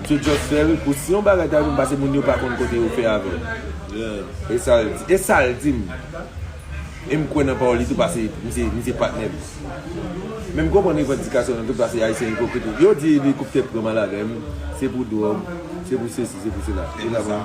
Misye just fè ri pou si yon bagay ta vin pase moun yo pa konn kote yo fè avèl e sal di e sal dim e m kwè nan pawòl li tou pase misye misye patnèm men m konprann revandikasyon l antou pase ayisyen ipokrit wi yo di elikoptè pran malavem se pou dwòg se pou sesi se pou sela ou ta pran.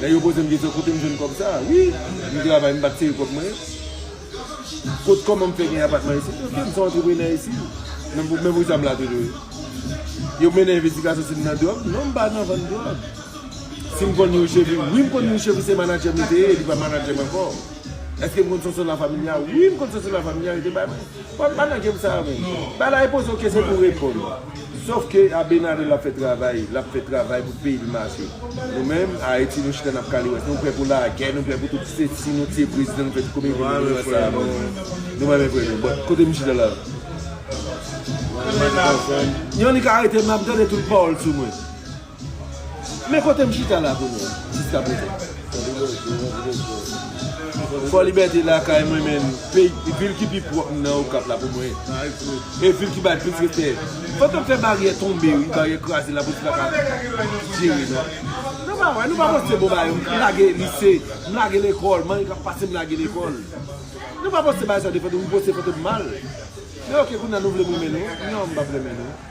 Nèg yo poze m kesyon kote m jwenn kòb sa a. Wi, m travay m pa tire kòb mwen. Kot kòman m fè gen apatman isit? Ok, m se yon antreprenè isit. Men pou sa m la toujou. Yo mennen envestigasyon si m nan dwòg? Non, m pa nan vann dwòg. Si m konn yon chèvi? Wi, m konn yon chèvi se manadjè m li te ye, li pa manadjè m ankò. Eske m konn sòs la familia? Wi, m konn sòs la familia li te bay mwen. Pòt pa nan game sa a menm. Ba la e poze w kesyon pou w reponn. Sof ke Abenadel ap fè travay, lap fè travay pou peyi li mache. Nou menm, Ayiti, nou chita nap kale wè. Nou prè pou lagè, nou prè pou tout se si nou tiye prezidan nou fè tout komedye nou vle wè sa a bon. Nou pa menm prè nou. Bon, kote m chita la? Yon li ka arete m, lap gade tout pawòl sou mwen. Men kote m chita la kounye a jiska prezan. Fò Libète lakay mwen men vil ki pi pwòp nan Okap la pou mwen. E vil ki bay plis respè. Fòk yo fè baryè tonbe wi, baryè kraze lapolis pa ka jere non. Nou pa wè, nou pa poste bon bagay. M lage lise, m lage lekòl, manyen k ap pase m lage lekòl. Nou pa poste bagay sa w defann nou, m poste kote m mal. Men ok kounye a nou vle m renmen nou? Non m p ap renmen nou.